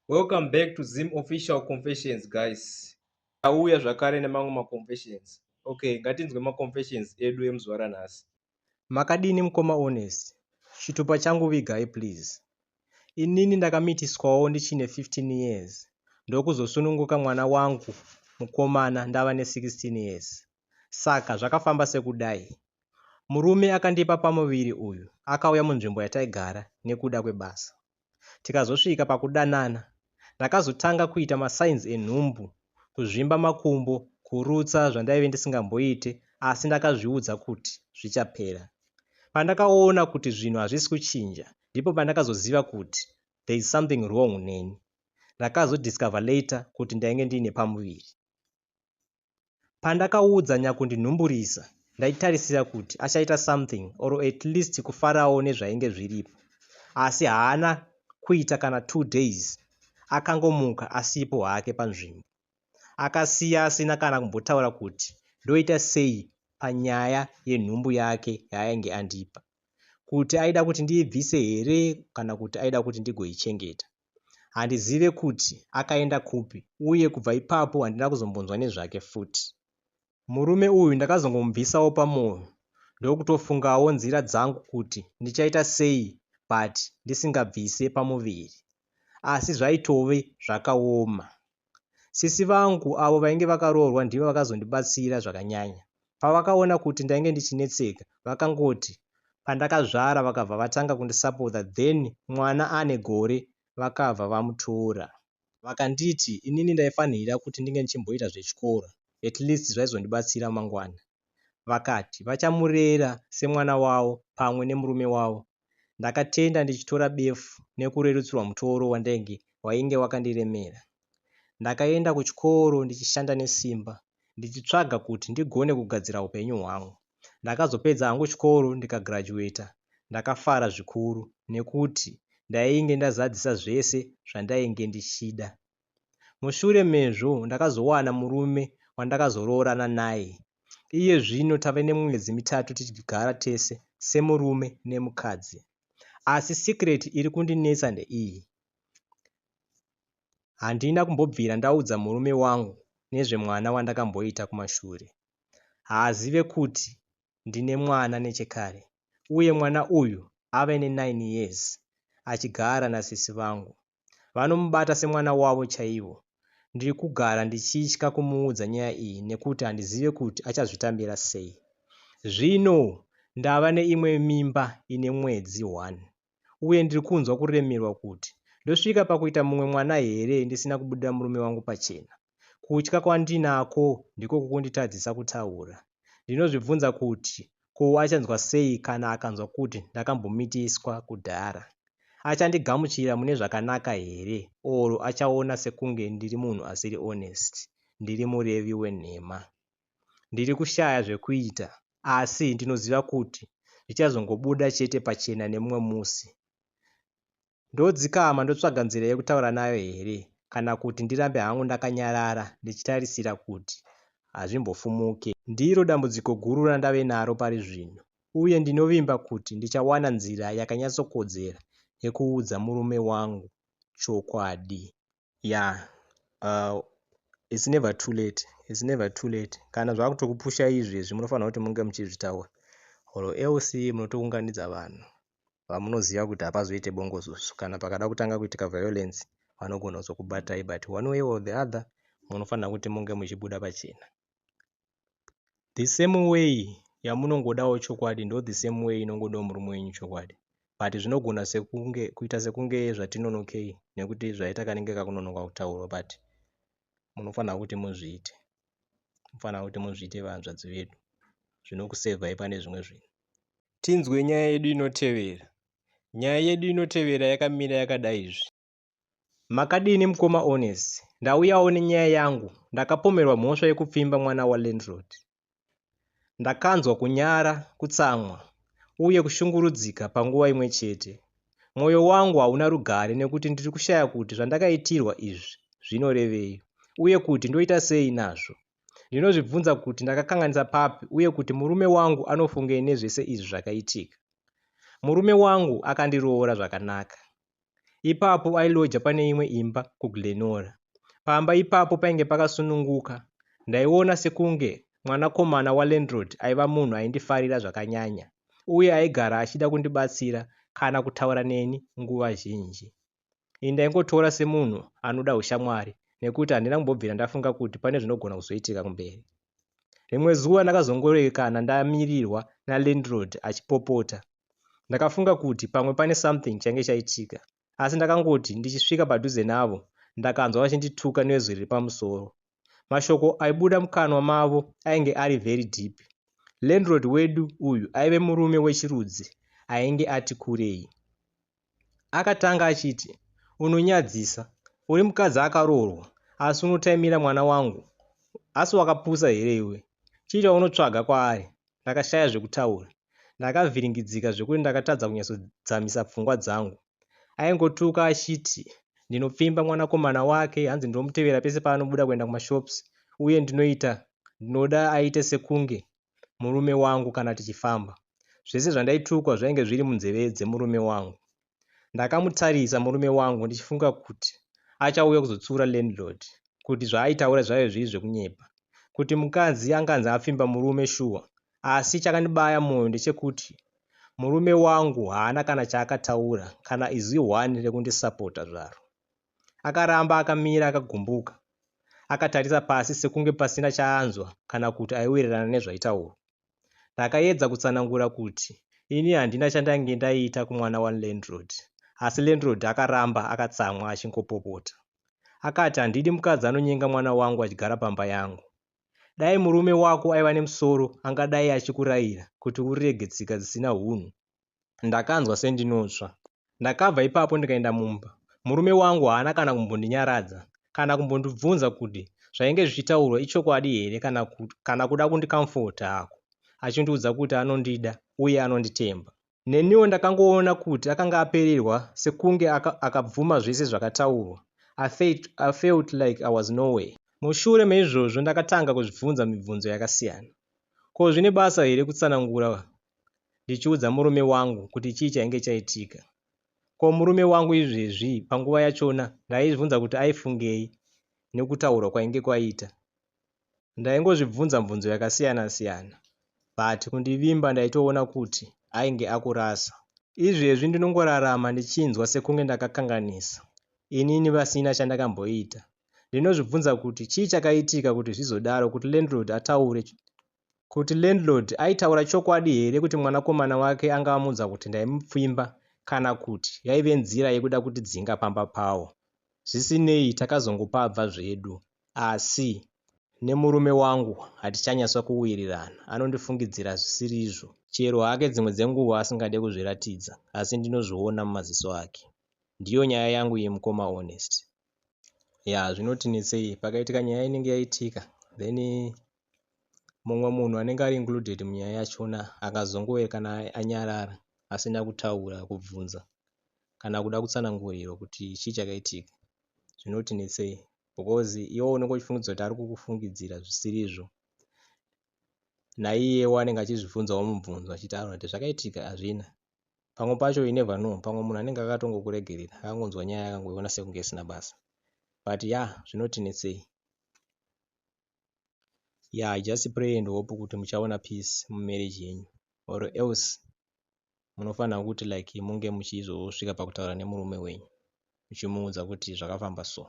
welcome back to zim official confessions guys auya zvakare nemamwe maconfessions okay ngatinzwe maconfessions edu emuzuva ranhasi makadini mukoma honest chitupa changu vigai please inini ndakamitiswawo ndichine 15 years ndokuzosununguka mwana wangu mukomana ndava ne16 years saka zvakafamba sekudai murume akandipa pamuviri uyu akauya munzvimbo yataigara nekuda kwebasa tikazosvika pakudanana ndakazotanga kuita masigns enhumbu kuzvimba makumbo kurutsa zvandaive ndisingamboite asi ndakazviudza kuti zvichapera pandakaona kuti zvinhu hazvisi kuchinja ndipo pandakazoziva kuti there is something wrong neni ndakazodiscover later kuti ndainge ndiine pamuviri Pandakaudza nyakundinhumburisa ndaitarisira kuti achaita something or at least kufarawo nezvainge zviripo asi haana kuita kana two days akangomuka asipo hake panzvimbo akasiya asina kana kumbotaura kuti ndoita sei panyaya yenhumbu yake yaainge andipa kuti aida kuti ndiibvise here kana kuti aida kuti ndigoichengeta Handizive kuti akaenda kupi uye kubva ipapo handina kuzombonzwa nezvake futi. Murume uyu ndakazongomubvisawo pamoyo ndokutofungawo nzira dzangu kuti ndichaita sei but ndisingabvise pamuviri asi zvaitove zvakaoma. Sisi vangu avo vainge vakaroorwa ndivo vakazondibatsira zvakanyanya. Pavakaona kuti ndainge ndichinetseka vakangoti pandakazvara vakabva vatanga kundisapota then mwana ane gore vakabva vamutora. Vakanditi inini ndaifanhira kuti ndinge ndichimboita zvechikoro at least zvaizondibatsira mangwana. vakati vachamurera semwana wavo pamwe nemurume wavo. Ndakatenda ndichitora befu nekurerutsirwa mutoro wandainge wainge wakandiremera. Ndakaenda kuchikoro ndichishanda nesimba ndichitsvaga kuti ndigone kugadzira hupenyu hwangu. Ndakazopedza hangu chikoro ndikagraduater ndakafara zvikuru nekuti ndainge ndazadzisa zvese zvandainge ndichida. Mushure mezvo ndakazowana murume wandakazoroorana naye. Iye zvino tave nemwedzi mitatu tichigara tese semurume nemukadzi. Asi secret iri kundinetsa ndeiyi. Handina kumbobvira ndaudza murume wangu nezvemwana wandakamboita kumashure. Haazive kuti ndine mwana nechekare uye mwana uyu ave ne9 years achigara nasisi vangu. Vanomubata semwana wavo chaivo. Ndiri kugara ndichitya kumuudza nyaya iyi nekuti handizive kuti achazvitambira sei. Zvino ndava neimwe mimba ine mwedzi one uye ndiri kunzwa kuremerwa kuti ndosvika pakuita mumwe mwana here ndisina kubudira murume wangu pachena. Kutya kwandinako ndiko kukunditadzisa kutaura. Ndinozvibvunza kuti ko achanzwa sei kana akanzwa kuti ndakambomitiswa kudhara. Achandigamuchira mune zvakanaka here or achaona sekunge ndiri munhu asiri honest, ndiri murevi wenhema. Ndiri kushaya zvekuita asi ndinoziva kuti zvichazongobuda chete pachena nemumwe musi. Ndodzikama ndotsvaga nzira yekutaura nayo here kana kuti ndirambe hangu ndakanyarara ndichitarisira kuti hazvimbofumuke. Ndiro dambudziko guru randave naro pari zvino uye ndinovimba kuti ndichawana nzira yakanyatsokodzera yekuudza murume wangu chokwadi. Yaa uh, it's never too late it's never too late kana zvakutokupusha izvezvi munofanira kuti munge muchizvitaura or else munotounganidza vanhu vamunoziva kuti hapazoite bongozozo kana pakada kutanga kuitika violence vanogona kuzokubatai but one way or the other munofanira kuti munge muchibuda pachena the same way yamunongodawo chokwadi ndo the same way inongodawo murume wenyu chokwadi but zvinogona sekunge kuita sekunge zvatinonokei nekuti zvaita kanenge kakunonoka kutaurwa but munofanira kuti muzviite munofanira kuti muzviite vahanzvadzi vedu zvinokusevhai pane zvimwe zvinhu tinzwe nyaya yedu inotevera nyaya yedu inotevera yakamira yakadai izvi Makadini mukoma Ones? Ndauyawo nenyaya yangu. Ndakapomerwa mhosva yekupfimba mwana walandlord. Ndakanzwa kunyara, kutsamwa uye kushungurudzika panguva imwe chete. Mwoyo wangu hauna rugare nekuti ndiri kushaya kuti zvandakaitirwa izvi zvinorevei uye kuti ndoita sei nazvo. Ndinozvibvunza kuti ndakakanganisa papi uye kuti murume wangu anofungei nezvese izvi zvakaitika. Murume wangu akandiroora zvakanaka. Ipapo ailoja pane imwe imba kuGlenora. Pamba ipapo painge pakasununguka. Ndaiona sekunge mwanakomana walandlord aiva munhu aindifarira zvakanyanya uye aigara achida kundibatsira kana kutaura neni nguva zhinji. Ini ndaingotora semunhu anoda ushamwari nekuti handina kumbobvira ndafunga kuti pane zvinogona kuzoitika kumberi. Rimwe zuva ndakazongoerekana ndamirirwa nalandlord achipopota. Ndakafunga kuti pamwe pane something change chaitika asi ndakangoti ndichisvika padhuze navo ndakanzwa vachindituka nezwi riri pamusoro. Mashoko aibuda mukanwa mavo ainge ari very deep. Landlord wedu uyu aive murume wechirudzi ainge ati kurei. Akatanga achiti, Unonyadzisa. Uri mukadzi akaroorwa, asi unotaimira mwana wangu. Asi wakapusa here iwe? Chii chaunotsvaga kwaari? Ndakashaya zvekutaura. Ndakavhiringidzika zvekuti ndakatadza kunyatsodzamisa pfungwa dzangu. Aingotuka achiti, Ndinopfimba mwanakomana wake, hanzi ndinomutevera pese paanobuda kuenda kumashops, uye ndinoita ndinoda aite sekunge murume wangu kana tichifamba. Zvese zvandaitukwa zvainge zviri munzeve dzemurume wangu. Ndakamutarisa murume wangu ndichifunga kuti achauya kuzotsiura landlord kuti zvaaitaura zvaive zviri zvekunyepa. Kuti mukadzi anganzi apfimba murume shuwa asi chakandibaya moyo ndechekuti murume wangu haana kana chaakataura kana izwi one rekundisapota zvaro. Akaramba akamira akagumbuka. Akatarisa pasi sekunge pasina chaanzwa kana kuti aiwirirana nezvaitaurwa. Ndakaedza kutsanangura kuti ini handina chandange ndaita kumwana walandlord asi landlord akaramba akatsamwa achingopopota. Akati handidi mukadzi anonyenga mwana wangu achigara pamba yangu. Dai murume wako aiva nemusoro angadai achikurayira kuti urege tsika dzisina hunhu Ndakanzwa sendinotsva. Ndakabva ipapo ndikaenda mumba. Murume wangu haana kana kumbondinyaradza kana kumbondibvunza kuti zvainge zvichitaurwa ichokwadi here kana, kana kuda kundikamfota hako achindiudza kuti anondida uye anonditemba. Neniwo ndakangoona kuti akanga apererwa sekunge akabvuma aka zvese zvakataurwa. I felt, I felt like I was nowhere. Mushure meizvozvo ndakatanga kuzvibvunza mibvunzo yakasiyana. Ko zvine basa here kutsanangura ndichiudza murume wangu kuti chii chainge chaitika. Ko murume wangu izvezvi panguva yachona ndaizvibvunza kuti aifungei nekutaurwa kwainge kwaita. Ndaingozvibvunza mvunzo yakasiyana siyana but kundivimba ndaitoona kuti ainge akurasa. Izvezvi ndinongorarama ndichinzwa sekunge ndakakanganisa inini vasina chandakamboita. Ndinozvibvunza kuti chii chakaitika kuti zvizodaro kuti landlord ataure kuti landlord aitaura chokwadi here kuti mwanakomana wake anga amuudza kuti ndaimupfimba kana kuti yaive nzira yekuda kutidzinga pamba pawo. Zvisinei, takazongopabva zvedu asi nemurume wangu hatichanyatso kuwirirana, anondifungidzira zvisirizvo chero hake dzimwe dzenguva asingade kuzviratidza asi ndinozviona mumaziso ake. Ndiyo nyaya yangu iyi mukoma Honest. Yaa zvinoti netsei pakaitika nyaya inenge yaitika then Mumwe munhu anenge ari included munyaya yachona akazongoerekana anyarara asina kutaura kubvunza kana kuda kutsanangurirwa kuti chii chakaitika zvinotinetsei because iwe unenge uchifungidzira kuti ari kukufungidzira zvisirizvo naiyewo anenge achizvibvunzawo mubvunzo achitaura kuti zvakaitika hazvina pamwe pacho you never know pamwe munhu anenge akatongokuregerera akangonzwa nyaya akangoiona sekunge isina basa but ya yeah, zvinotinetsei Yaa just pray and hope kuti muchaona peace mu marriage yenyu or else munofanirwa kuti like munge muchizosvika pakutaura nemurume wenyu muchimuudza kuti zvakafamba so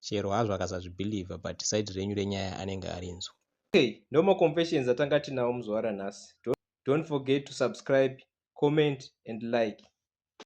chero hazvo akasazvibhilivha but side renyu renyaya anenge arinzwa. Okay, no more confessions atanga tinawo muzuva ranhasi. Don't forget to subscribe, comment and like.